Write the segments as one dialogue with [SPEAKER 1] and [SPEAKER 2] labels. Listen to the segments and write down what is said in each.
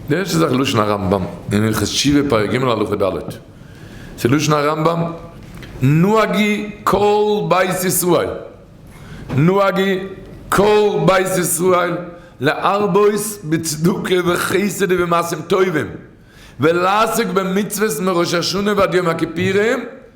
[SPEAKER 1] דעס איז דאך לשון הרמב ם אין הלכות תשובה פרק ג' הלכה ד'. ס'איז לשון הרמב ם נוהגי כל בית ישראל נוהגי כל בית ישראל להרבות בצדקה וחסד ובמעשים טובים ולעסוק במצוות מראש השנה ועד יום הכיפורים,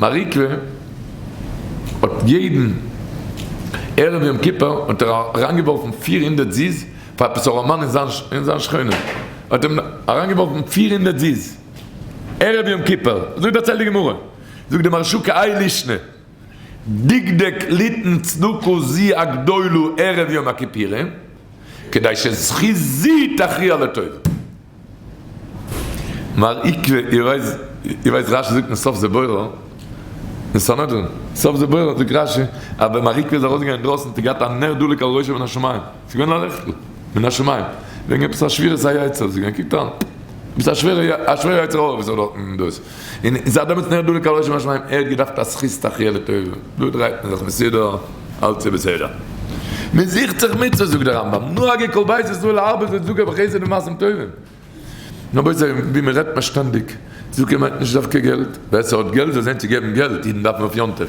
[SPEAKER 1] מעריקווע האט יעדן ערב יום כיפור האט ער אריינגעווארפן פֿיר הונדערט זיז פאר עפעס א ראמאן אין זיין שכונה האט אים אריינגעווארפן פֿיר הונדערט זיז ערב יום כיפור אזוי דערציילט די גמרא זאגט די מהרשא קאי לישנא דקדק ליתן צדקה זי ע גדולה ערב יום הכיפורים כדי שזכות זי תכריע לטובה. מר עיקר איר ווייסט רשי זאגט אין סוף זבורה אין סנהדרין סוף זבורה זאגט רשי אז ווען מר עיקר איז ארויס געגאנגען אינדרויסן האט ער געהאט א נר דולק על ראשו מן השמים ס'איז געווען א לעכטל מן השמים וועגן עפעס א שבירת היצר זאגט ער קוקט אן עפעס א שווערע יצר הרע וואס ער האט דארטן דאס און זיי דעמאלטס נער דולק על ראשם השמים, ער האט געדארפט א זכות תחי' לטובה, דא דרייט מען זיך מסודר, אלץ איז בסדר. מען זוכט זיך מצוות זאגט דער רמב ם, נוהגי כל בית ישראל להרבות את צדקה וחסד ומעשים טובים. רבותי ווי מען רעדט פארשטענדיג, צדקה מיינט נישט דווקא געלט, ווער ס'האט געלט זאל זען צו געבן געלט, אידן דארפן אויף יום טוב,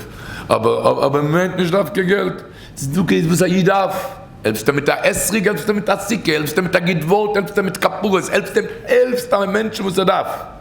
[SPEAKER 1] אבער מיינט נישט דווקא געלט, צדקה איז וואס א איד דארף, העלפסט עם מיט א אתרוג, העלפסט עם מיט א סוכה, העלפסט עם מיט א גוט ווארט, העלפסט עם מיט כפרות, העלפסט עם, העלפסט א מענטשן וואס ער דארף.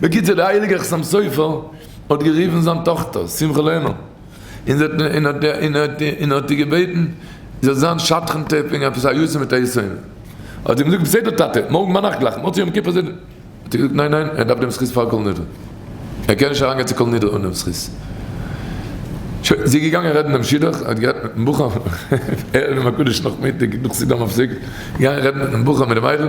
[SPEAKER 1] בקיצור דער הייליגער חתם סופר האט גערופן זיין טאכטער שמחה לערנען און האט איר געבעטן זי זאל זיין שדכן ת ב אין עפעס א יו ט מיט א יסוד, האט זי געזאגט בסדר טאטע, מארגן ביינאכט גלייך מוצאי יום כיפור זיבן, האט ער געזאגט ניין ניין ער דארף דעם זכות פאר כל נדרי, ער קען נישט אריינגיין צו כל נדרי אן דעם זכות, שוין זי איז געגאנגען רעדן דעם שידוך, ער האט גערעדט מיטן בחור ערב יום הקדוש נאכמיטאג נאך סידור מפסק, געגאנגען רעדן מיטן בחור מיט די מיידל.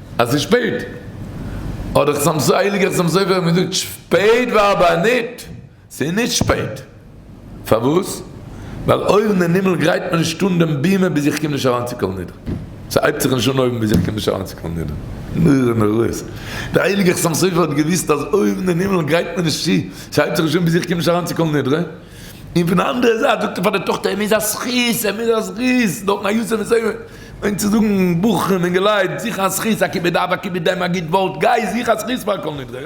[SPEAKER 1] אז ס'איז שפעט, אדער חתם סופר, הייליגער חתם סופר האט געזאגט שפעט וארבעה ניט, ס'איז ניט שפעט. פארוואס? ווייל אויבן אין הימל גרייט מען נישט אן דעם בימה ביז איך קום נישט אריין צו קל נדרי. ס'הייבט זיך נישט אן אויבן ביז איך קום נישט אריין צו קל נדרי. נורא נוראות. דער הייליגער חתם סופר האט געוואוסט אז אויבן אין הימל גרייט מען נישט צו, ס'הייבט זיך נישט אן ביז איך קום נישט אריין צו קל נדרי. און פון א אנדערע זייט זאגט ער פאר די טאכטער ער מוז א זכות ער מוז א זכות נאכן א יאסעלע זעמל און צו זאגן בחורים אינגעלייט זיך א זכות א כיבוד אב א כיבוד אם א גוט ווארט גיי זוך א זכות פאר כל נדרי.